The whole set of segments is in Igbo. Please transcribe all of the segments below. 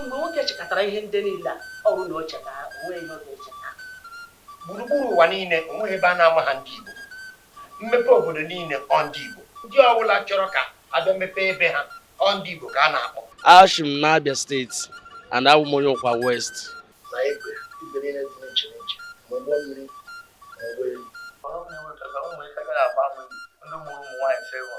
Mgbe nwoke chịkọtara ihe ndị niile a, ọ bụrụ na o cheta ha, o nweghị ihe ọ ga-echeta. Gburugburu ụwa niile, o nweghị ebe a na-amaha ndị Igbo. Mmepe obodo niile ọ ndị Igbo. Ndị ọ bụla chọrọ ka a bịa mepee ebe ha, ọ ndị Igbo ka a na-akpọ. Ashi m n'Abia steeti and abụ m onye Ụkwa West. Na Egbe, igwe niile dị n'iche n'iche, ma ụgbọ mmiri ma ụgbọelu. Ọrụ m na-enwe ka na ụmụ ike agaghị agba ama Igbo, ndị mụrụ ụmụ nwaanyị sị ịhụ.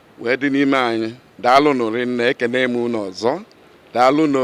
wee dị n'ime anyị daalụ nụ rinne ekene m unu ọzọ daalụ nụ